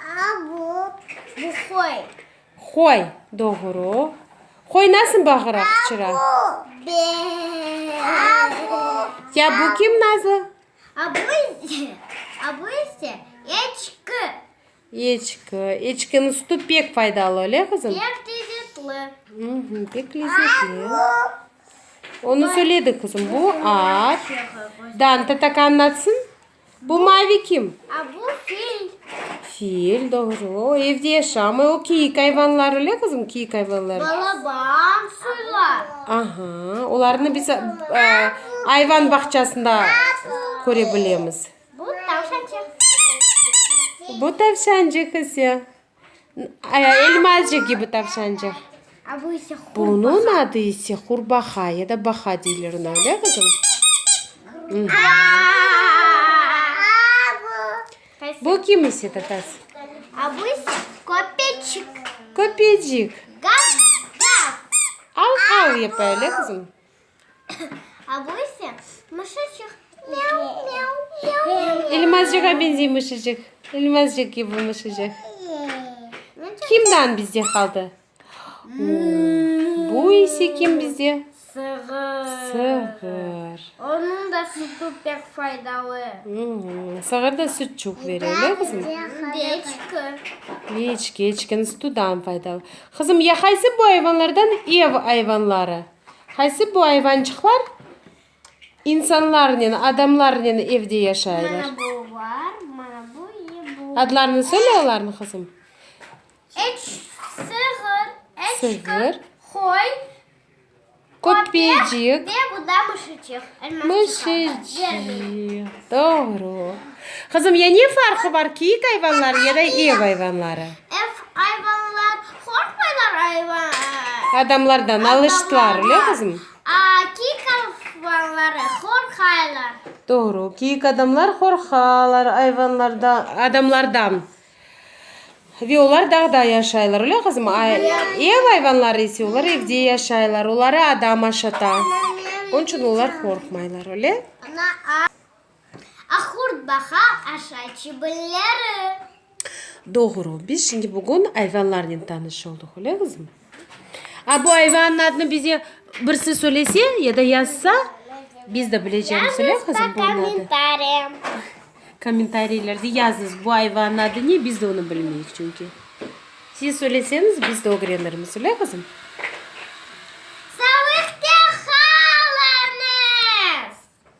A, bu, bu qoy. Qoy, doğru. Qoy nasıl bağıra, qıçıra? A, bu, be, a, bu. Ya bu kim, Nazlı? A, bu ise, a, bu ise eçki. Eçki. Eçkiniñ sütü pek faydalı, öyle, qızım? Pek lezzetli. Hı-hı, pek lezzetli. A, bu. Onı söyledik, qızım. Bu at. Dan tatakanın atsın. Bu mavi kim? A, bu fil. Fil, doğru. O evde yaşamay. O kiyik ayvanlar, öyle kızım? Kiyik ayvanlar. Balaban, suylar. Aha, olarnı biz e, ayvan bağçasında körebilemiz. Bu tavşancıq. Bu tavşancıq ise. Elmazcıq kibi tavşancıq. Bunıñ adı ise qurbaqa ya da baqa deyilir buna, öyle qızım? Bu kim ise, Tatas? Bu ise köpecik. Köpecik. Gav-gav. Av-av yapa, öyle qızım? A bu ise mışıçıq. Myav, myav, myav, myav, myav. İlmazcığa benzey mışıcıq. İlmazcıq kibi mışıcıq. Kimden bizde qaldı? Bu ise kim bizde? Sığır. Sığır. Onıñ da sütü pek faydalı. Sığır da süt çoq bere, öyle qızım? Keçki. Keçki, keçkiniñ sütü daha faydalı. Qızım, ya qaysı bu ayvanlardan ev ayvanları? Qaysı bu ayvançıqlar? İnsanlarnen, adamlarnen evde yaşaylar. Mana bu var, mana bu ve bu. Adlarını söyle olarnıñ qızım. Eç, sığır, eçkır, qoy, köpecik ve bu da mışıcıq. Mışıcıq, doğru. Qızım, ya ne farqı var, kiyik ayvanları ya da ev ayvanları? Ev ayvanları. Qorqmaylar ayvan. Adamlardan alıştılar, öyle qızım? Adamlardan. Aa, kiyik ayvanları qorqaylar. Doğru, kiyik adamlar qorqalar ayvanlardan, adamlardan. Ve olar dağda yaşaylar, öyle qızım? Ev ayvanları ise olar evde yaşaylar, oları adam aşata. Onıñ içün olar qorqmaylar, öyle? Ahurt baqa aşa çibilleri. Doğru, biz şimdi bugün ayvanlarnen tanış oldıq, öyle qızım? A bu ayvanın adını bize birisi söylese ya da yazsa, biz de bilecemiz, öyle qızım, bunun adı? Yazıñız kommentariy. Kommentariylerge yazıñız, bu ayvanın adı ne, biz de onı bilmeyik çünki. Siz söyleseñiz, biz de ögrenirmiz, öyle qızım?